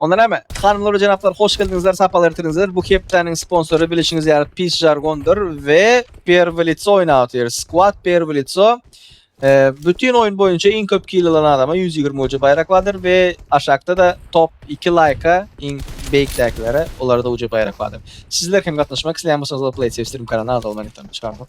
Onda näme? Hanymlar we jenaplar hoş geldiňizler, sapar ertirdiňizler. Bu hepdäniň sponsory bilişiňiz ýaly pis žargondyr we Perwi lico oýnap otyr. Skwad Perwi lico. Bütin oýun boýunça iň köp kill alan adama ýüz ýigrimi uce baýrak bardyr we aşakda-da top iki laýka iň beýikdäkilere olarda uce baýrak bardyr. Sizler hem gatnaşmak isleýän bolsaňyzlar Playsafestream kanalyna agza bolmagy ýatdan çykardyk.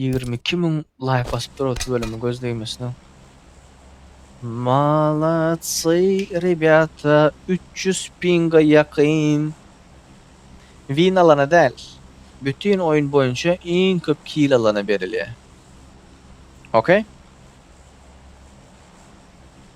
Ýigrimi iki müň laýk basyp dur otuz bölümi göz degmesin-ow. Molodsy, rebýata, üç ýüz pinga ýakyn. Win alana däl, bütin oýun boýunça iň köp kill alana berilýär. Okey?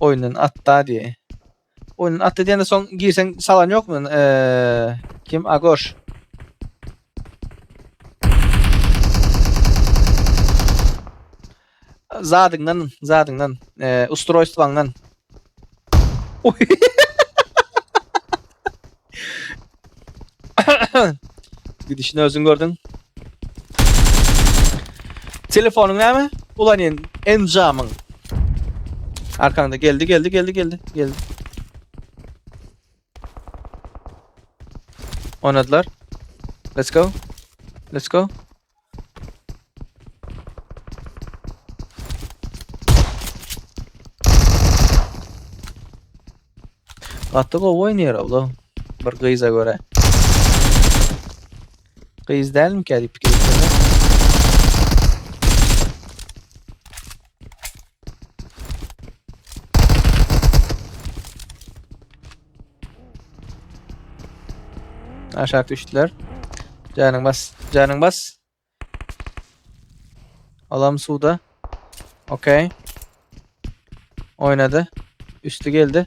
Oyundan atda diye. Oyundan atda diýende soň girseň salan ýokmy? Eee kim Agoş? Zadyňdan, zadyňdan, eee ustroýstwaňdan. Gidişini özün gördün. Telefonun näme? Ulan en enjamyň. Arkanda geldi geldi geldi geldi geldi. Oynadılar. Let's go. Let's go. Gaty gowy oýnaýar ola. Bir gyza görä. Gyz dälmi kädip pikir etseňiz? Aşak düşdüler. Canın bas. Canın bas. Alam suda. Okey. Oynadı. Üstü geldi.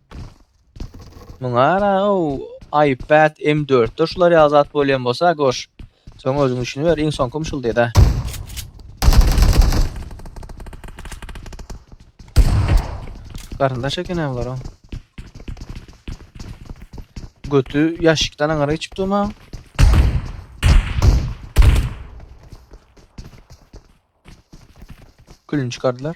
Muňa ara o iPad M4-de şular ýaly zat bolýan bolsa goş. Soň özüň üçin ber, iň soňky şul diýdi. Garyndaş eken hem bular. Götü ýaşykdan aňara geçip durma. Külünü çıkardılar.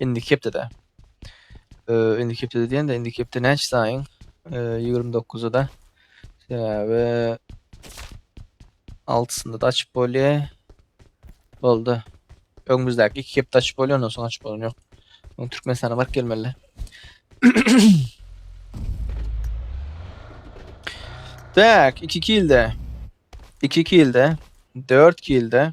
Indiki hepdede. Ee, indiki hepdede diýende, indiki hepde näçe saýyň? Ee, 29-da. Sebäbi 6-synda da açyp bolýar. Boldy. Öňümizdäki iki hepde açyp bolýar, ondan soň açyp bolan ýok. Oň Türkmenistana baryp gelmeli. Tak, 2 kilde. 2 kilde. 4 kilde.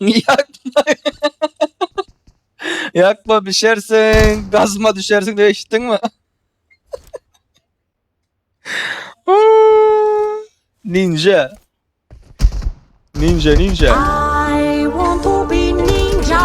Ýakma. Ýakma bişersiň, gazma düşersiň diýip eşitdiňmi? Ninja. Ninja, ninja. I want to be ninja.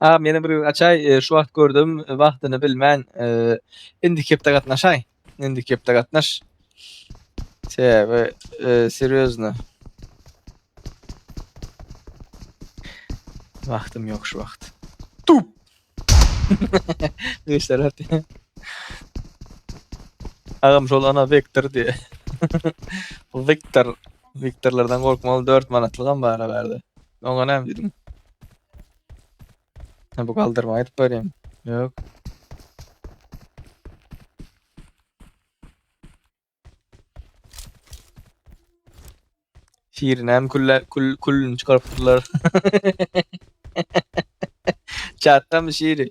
Agam meni bir gün açaý e, şu wagt gördüm e, wagtyny bilmän e, indiki hepde gatnaşaý. Indiki hepde gatnaş. Sebäbi e, serýozno. Wagtym ýok şu wagt. Tup. Güýçler atdy. Agam şol ana Vektor diýe. Viktor. Viktorlardan gorkmaly 4 manatlygam bar bärde. Oňa näme diýdim? Sen bu galdyrma aýdyp berýän. Ýok. Şirin hem külle, kül, külünü çıkarıp durlar. Çatda mı Şiri?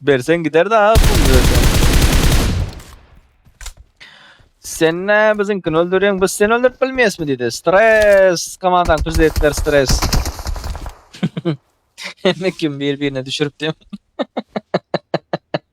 Bersen gider de abi pul bersen. Sen ne bizinkini öldürüyorsun, biz seni öldürüp bilmeyes mi dedi. Stres, komandan prezidentler stres. Hem kim bir birine düşürüp diyorum.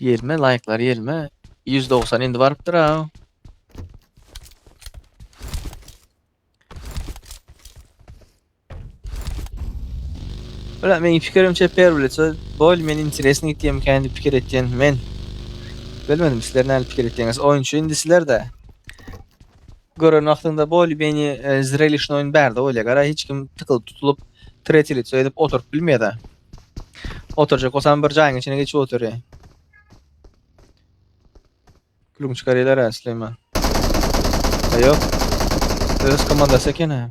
Ýelme laýklar ýelme. 190 indi barypdyr ha. Bula meň pikirimçe per bileçe bol men interesni gitýän kendi pikir etýän men. Bilmedim sizler näme pikir etýäňiz. Oýunçy indi sizlerde. Gören wagtyňda boly meni zrelişny oýun bärde bolýa gara hiç kim tykylyp tutulyp treti lico edip oturyp bilmeýada. Oturjak bolsam bir jaýyň içine geçip otury. Gülüm çykarylar ha Süleyman. Ayo. Öz komandasy ekene.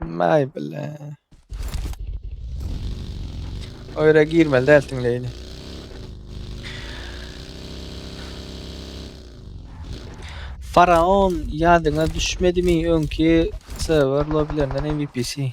May bile. O yere girmeli dersin Leyli. Faraon yadyňa düşmedi mi öňki server lobilerinden MVP'si.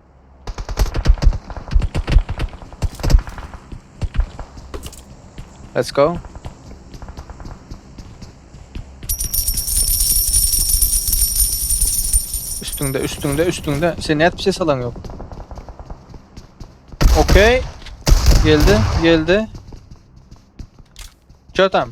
Let's go. Üstünde, üstünde, üstünde. Sen ne bir şey salan yok. Okey. Geldi, geldi. Çötem.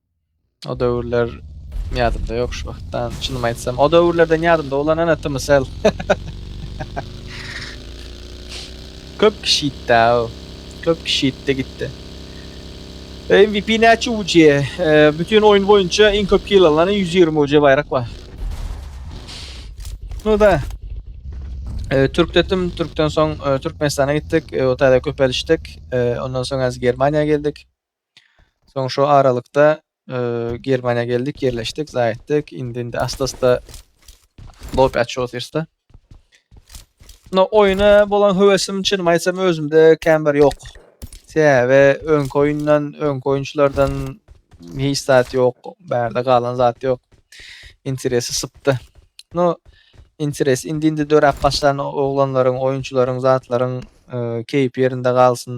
O döwürler ýadymda ýok şu wagtdan. Çynymy aýtsam, o döwürlerden ýadymda bolan ana tymsal. Köp kişi gitdi o. Köp kişi gitdi gitdi. MVP näçe UC? E, bütün oyun boyunca en köp kill alan 120 UC bayrak var. No da. E, Türk dedim. Türk'ten son e, Türkmenistan'a gittik. E, o tane köpeliştik. E, ondan sonra Germaniýa geldik. Soň şu aralykda e, Germaniýa geldik, ýerleşdik, zaýetdik. Indi indi astasda lobi açýosda. No oýna bolan höwesim çynymy aýtsam özümde kän bir ýok. Sebäbi öňki oýundan, öňki oýunçylardan hiç zat ýok. Bärde galan zat ýok. Interesi sypdy. No interes indi indi döräp başlan oglanlaryň, oýunçylaryň, zatlaryň e, keýpi ýerinde galsyn.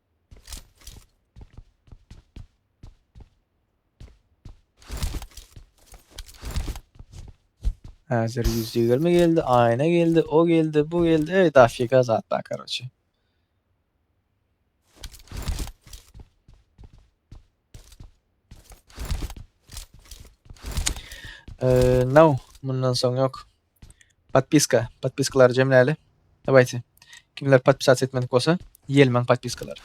Hazır 120 geldi, ayna geldi, o geldi, bu geldi. Evet, afiyet zat var karoçi. Ee, no, bundan sonra yok. Podpiska, podpiskalary jemläli. Dawayte. Kimler podpisasiýa etmedik bolsa, ýelmäň podpiskalary.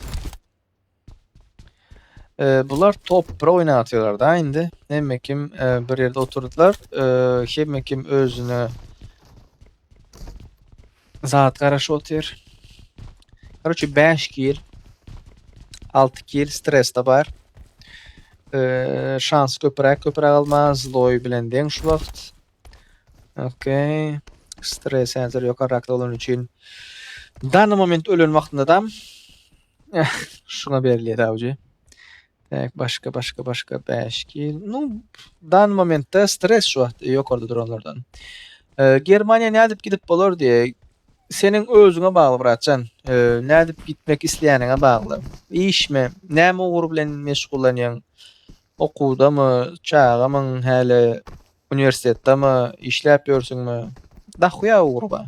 E, bular top pro oýnap atýarlar da indi. Hemme kim e, bir ýerde oturdylar. E, hemme kim özüne zat garaşyp otyr. Короче, 5 kill, 6 kill stres de bar. E, şans köpüräk köpüräk alma, Zloy bilen deň şu wagt. Ok. Stres häzir ýokarrakda bolany üçin dany moment ölen wagtyndadam şuna berilýär awjy. Bäk başga başga başga 5 kil. Nu, dany momentde stres şu wagt ýokarda duranlardan. E, Germaniýa nädip gidip bolar diýe. Seniň özüňe bagly bratjan. E, nädip gitmek isleýäniňe bagly. Işmi? Näme ugur bilen meşgullanýaň? Okuwdamy? Çagamyň häli Uniwersitetdami, işläp ýörsüňmi? Dahuýa ugry bar.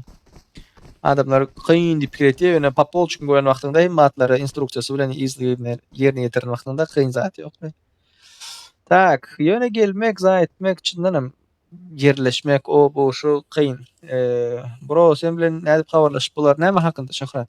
Adamlar kyn diýip pikir edýär, ýöne po polçuny gören wagtyňda hem matlary instruksiýasy bilen yzly-yzyna ýerine ýetiren wagtyňda kyn zat ýok. Tak, ýöne gelmek, za etmek, çyndan hem ýerleşmek, o, bu, şu kyn. Bro, sen bilen nädip habarlaşyp bolar? Näme hakynda, Şöhrat?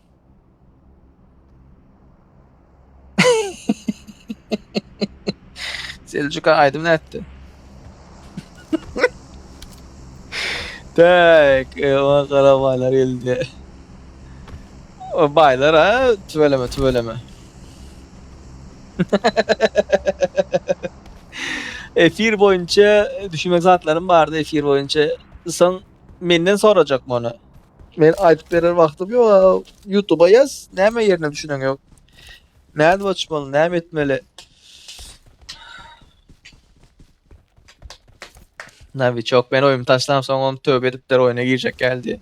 Seljuka aýdym nätdi? Tak, o garabalar geldi. O baylar ha, tüveleme tüveleme. efir boyunca düşünmek zatlarım bardı efir boyunca. Son Menden sorajak muny. Men aytyp berer wagtym yok a youtube'a yaz näme yerine düşünen yok. Nädip açmaly näme etmeli. Navi çok ben oyumu taşlam sonra onu tövbe edip der oyuna girecek geldi.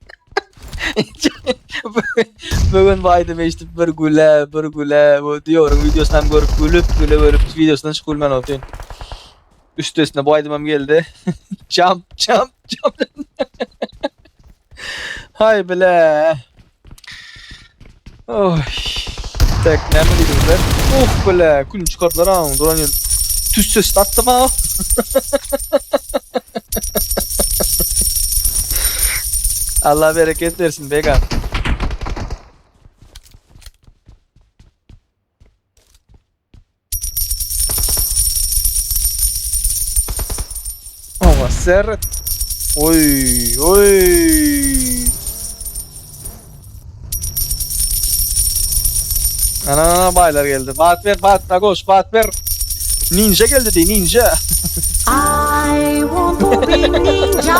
Bu gün baýdym eşidip bir güle, bir güle. Bu diýoryň wideosyny hem görüp gülüp, güle görüp wideosyny hiç gülmän otyryn. Üstesine bu aýdymam geldi. Jump, jump, jump. Hay bile. Oy. Tek näme diýdiler? Oh bile, kül çykardylar aň. Duran ýer. Tüsse statdy ba. Allah bereket versin Bega. Owa seret. Oy oy. Ana ana baylar geldi. Bat ver bat da koş bat ver. Ninja geldi diye ninja. I want to be ninja.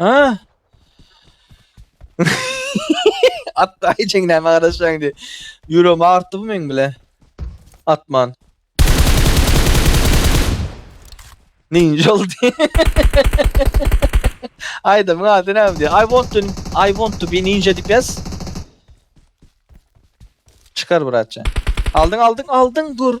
Ha? At daýy çeň näme garaşýaň diýip. Ýüregim agyrtdy bu meň bile. Atman. Ninja oldy. Aýdymyň ady näme diýýär? I want to I want to be ninja diýip ýaz. Çykar bratja. Aldyň aldyň aldyň dur.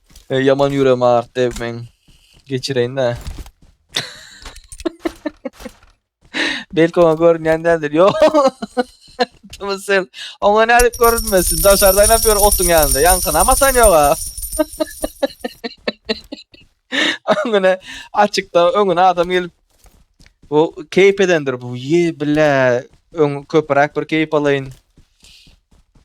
Ey yaman yüreğim ağırttı ev men geçireyin de. Belki ona görünýän däldir. Yo. Tamam sen. Ona ne edip görünmesin. Daşardan yapıyor otun yanında. Yankın ama sen yok ha. Öňüne açıkta öňüne adam gelip bu keyif edendir bu. Ye bile ön köpürak bir keyif alayın.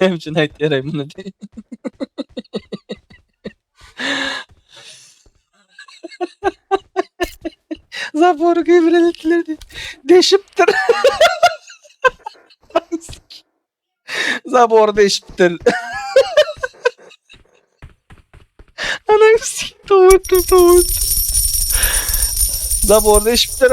Näme üçin aýtýaraý muny diý. Zabory kemren itler diý. Deşipdir. Zabory deşipdir. Ana üstü towuk towuk. Zabory deşipdir.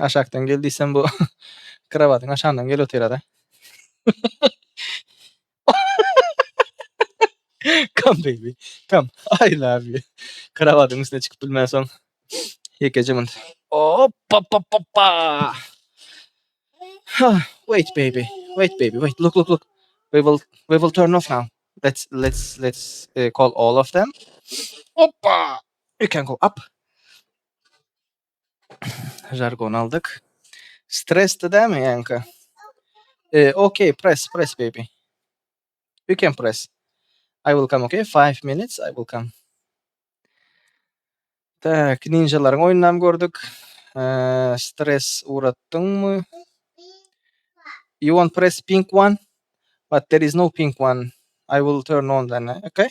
Aşakdan gel diýsem bu krowatyň aşagyndan gelip otyra-da. Come baby, come. I love you. Krowatyň üstüne çykyp bilmänsoň ýekeje munt. Hop, hop, hop, hoppa. Huh, Wait baby, wait baby, wait. Look, look, look. We will we will turn off now. Let's let's let's uh, call all of them. Hoppa. You can go up. Žargon aldyk. Stresli dämi ýaňka? Eee, okey, press, press baby. You can press. I will come, okay? Five minutes, I will come. Tak, ninjalaryň oýnunam gördük. Eee, stres uratdyňmy? You want press pink one? But there is no pink one. I will turn on then, okay?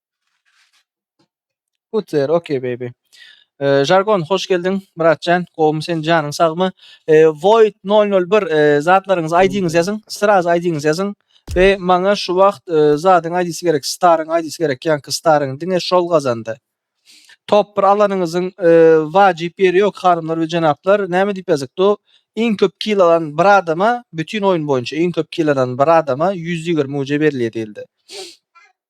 Put there, okay baby. Ee, Jargon, hoş geldiň. Myratjan, gowumy sen, janyň sagmy? Ee, Void 001, ee, zatlaryňyzy aýdyňyz ýazyň, sraz aýdyňyz ýazyň. Be, maňa şu wagt ee, zadyň aýdysy gerek, staryň aýdysy gerek, ýaňky staryň, diňe şol gazandy. Top bir alanyňyzyň ee, wajyp ýeri ýok, hanymlar we jenaplar. Näme diýip ýazykdu? Iň köp kill alan bir adama, bütin oýun boýunça iň köp kill alan bir adama ýüz ýigrimi uce berilýär diýildi.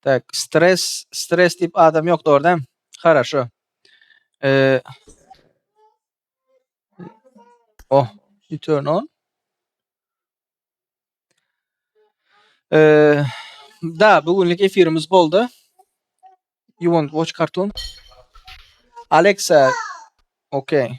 Tak, stres, stres diýip adam ýok dogry däm? Haraşo. Eee Oh, you turn on. Eee da bu günlük efirimiz boldy. You want watch cartoon? Alexa. Okay.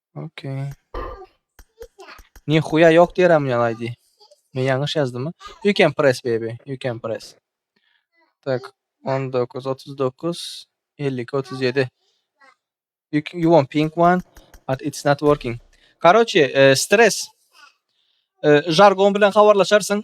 Okey. Nihuya yok diýeräm ýa aýdy. Men ýalňyş ýazdymy? You can press baby. You can press. Tak 19 39 52 37. You, c- you want pink one but it's not working. Karoçe, e, stres. E, jargon bilen habarlaşarsyň.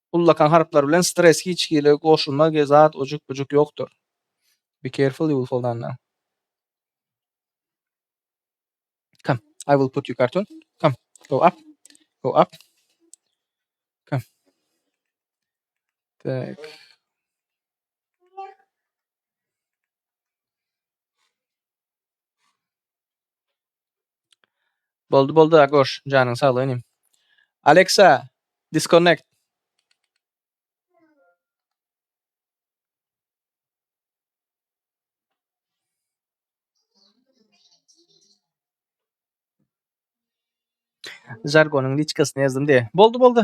Ullakan harplar bilen stres hiç hili goşulma ge zat ojuk bujuk yokdur. Be careful you will fall down now. Come, I will put you cartoon. Come, go up, go up. Come. Tak. Boldy boldy Agoş janyň saglyk inim. Alexa disconnect. Jargonyň liçkasyna ýazdym diýe. Boldy boldy.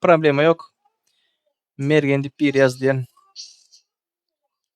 Problema ýok. Mergen diýip biri ýazdy diýen.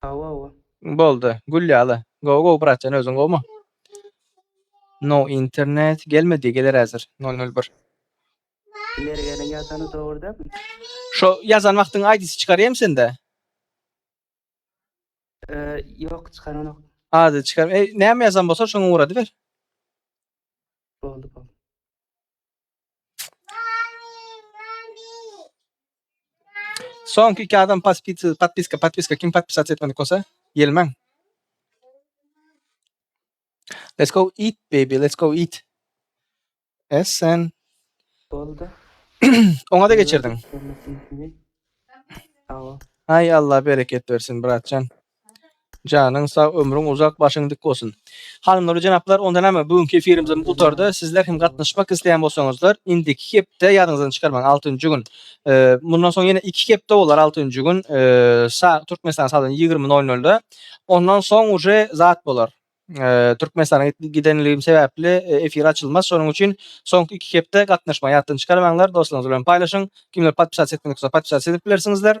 Hawa hawa. Boldy. Gül ýaly. Gowy gowy brat jan özüň gowmy? No internet gelmedi geler häzir nol nol bir. Mergeniň ýazany dogry dälmi? Şo ýazan wagtyň aýdysy çykarýamy sende? Ýok çykaranok. Ady çykarma. Näme ýazan bolsa şoňa ugradyber. Boldy boldy. Soňky iki adam paspisi, patpiska, patpiska kim patpisat etmedik bolsa, gelmäň. Let's go eat baby, let's go eat. Es sen. Boldy. Oňa da geçirdiň. Görmesin kimi. Awa. Ay Allah bereket versin bratjan. Janyň sag ömrüň uzak başyň dik bolsun. Hanymlar we jenaplar onda näme bu günki efirimiz gutardy. Sizler hem gatnaşmak isleýän bolsaňyzlar indiki hepde ýadyňyzdan çykarmaň altynjy gün mundan soň ýene iki hepde bolar altynjy gün sa Türkmenistan saatynda ýigrimi nol nolda ondan soň uje zat bolar Türkmenistana gidenligim sebäpli efir açylmaz şonuň üçin soňky iki hepde gatnaşmaň ýatdan çykarmaňlar dostlaryňyz bilen paýlaşyň kimler podpisasiýa etmedik bolsa podpisasiýa edip bilersiňizler.